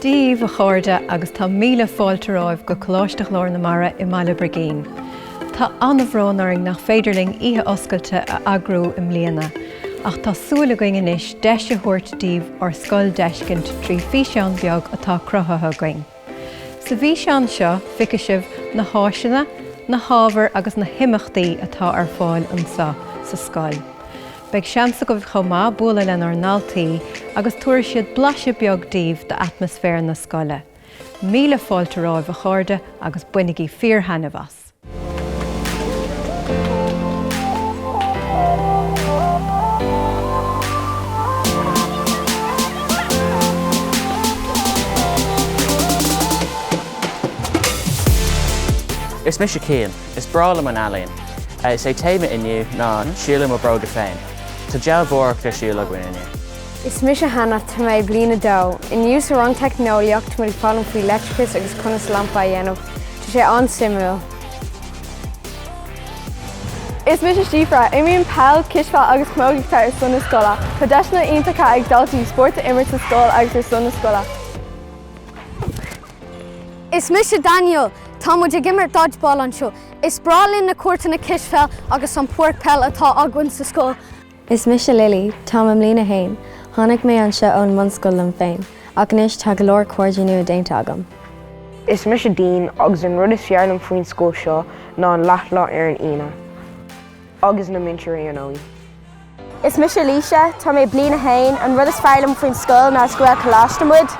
Dia dhaoibh a chairde agus tá míle fáilte romhaibh go Coláiste Ghlór na Mara i mBaile Brigín. Tá an-bhrón orainn nach féidir linn oíche oscailte a eagrú i mbliana, ach tá súil againn anois deis a thabhairt daoibh ár scoil d'fheiscint trí físeán beag atá cruthaithe againn. Sa bhfíseán seo feicfidh sibh na háiseanna, na hábhair agus na himeachtaí atá ar fáil anseo sa scoil. Beidh seans agaibh chomh maith bualadh lenár ndaltaí agus tabharfaidh siad blaiseadh beag daoibh d'atmaisféar na scoile. Míle fáilte romhaibh a chairde agus bainigí fíor-thaitneamh as! Alex. Is mise Cian. Is breá liom an ealaín. Is é téama inniu ná Siúl i mo Bróga Féin. Tá dealbhóireacht ar siúl againn inniu. Is mise Hannah. Tá mé i bliain a dó. Inniu sa rang teicneolaíocht tá muid ag foghlaim faoi leictreachas agus conas lampa a dhéanamh. Tá sé an-suimiúil. Is mise Síofra. Imrím peil, cispheil agus camógaíocht ar son na scoile. Tá deiseanna iontacha ag daltaí spórt a imirt sa scoil agus ar son na scoile. Is mise Daniel. Tá muid ag imirt dodgeball anseo. Is breá linn na cúirteanna cispheil agus an páirc peil atá againn sa scoil. Is mise Lily. Tá mé i mbliain a haon. Tháinig mé anseo ón mbunscoil liom féin, ach anois tá go leor cairde nua déanta agam. Is mise Dean agus an rud is fearr liom faoin scoil seo ná an leathlá ar an Aoine agus na múinteoirí ar ndóigh. Is mise Laoise. Tá mé i bliain a haon. An rud is fearr liom faoin scoil ná is Gaelcholáiste muid.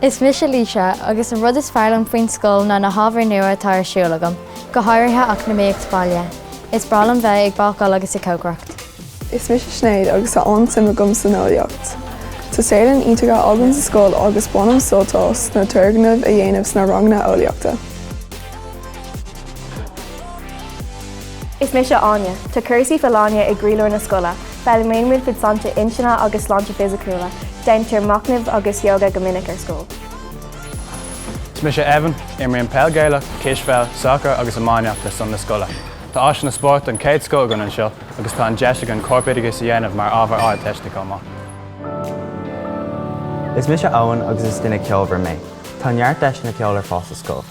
Is mise Laoise agus an rud is fearr liom faoin scoil ná na hábhair nua atá ar siúl agam, go háirithe eacnamaíocht baile. Is breá liom bheith ag bácáil agus ag cócaireacht. Is mise Sinéad agus tá an-suim agam san eolaíocht. Tá saotharlann iontach againn sa scoil agus bainim sult as na turgnaimh a dhéanamh sna ranganna eolaíochta. Is mise Áine. Tá cúrsaí folláine i gcroílár na scoile. Foghlaimíonn muid faoi sláinte intinne agus sláinte fisiciúla. Déantar machnamh agus yoga go minic ar scoil. Is mise Evan. Imrím peil Gaelach, cispheil, sacar agus iománaíocht ar son na scoile. Tá áiseanna spóirt den chéad scoth againn anseo agus tá an deis againn corpoideachas a dhéanamh mar ábhar Ardteiste chomh maith. Is mise Eoin agus is duine ceolmhar mé. Tá neart deiseanna ceoil ar fáil sa scoil.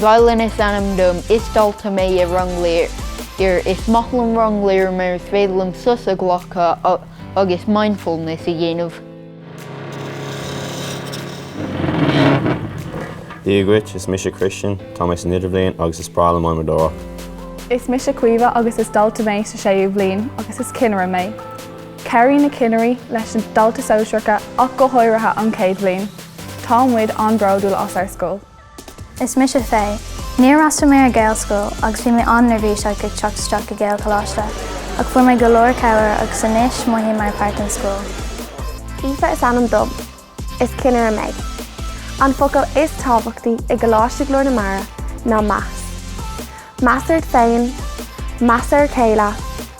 Faolán is ainm dom. Is dalta mé i Rang Lir. Is maith liom Rang Lir mar is féidir liom sos a ghlacadh agus mindfulness a dhéanamh. Dia dhuit, is mise Christian, tá mé san idirbhliain agus is breá liom adhmadóireacht. Is mise Caoimhe agus is dalta mé sa séú bhliain agus is cinnire mé. Cabhraíonn na cinnirí leis na daltaí sóisearacha ach go háirithe an chéad bhliain. Tá muid an-bhródúil as ár scoil. Is mise Faye. Níor fhreastail mé ar Gaelscoil agus bhí mé an-neirbhíseach ag teacht isteach go Gaelcholáiste, ach fuair mé go leor cabhair agus anois mothaím mar pháirt den scoil. Aoife is ainm dom. Is cinnire mé. An focal is tábhachtaí i gColáiste Ghlór na Mara ná meas. Meas ort féin, meas ar a chéile,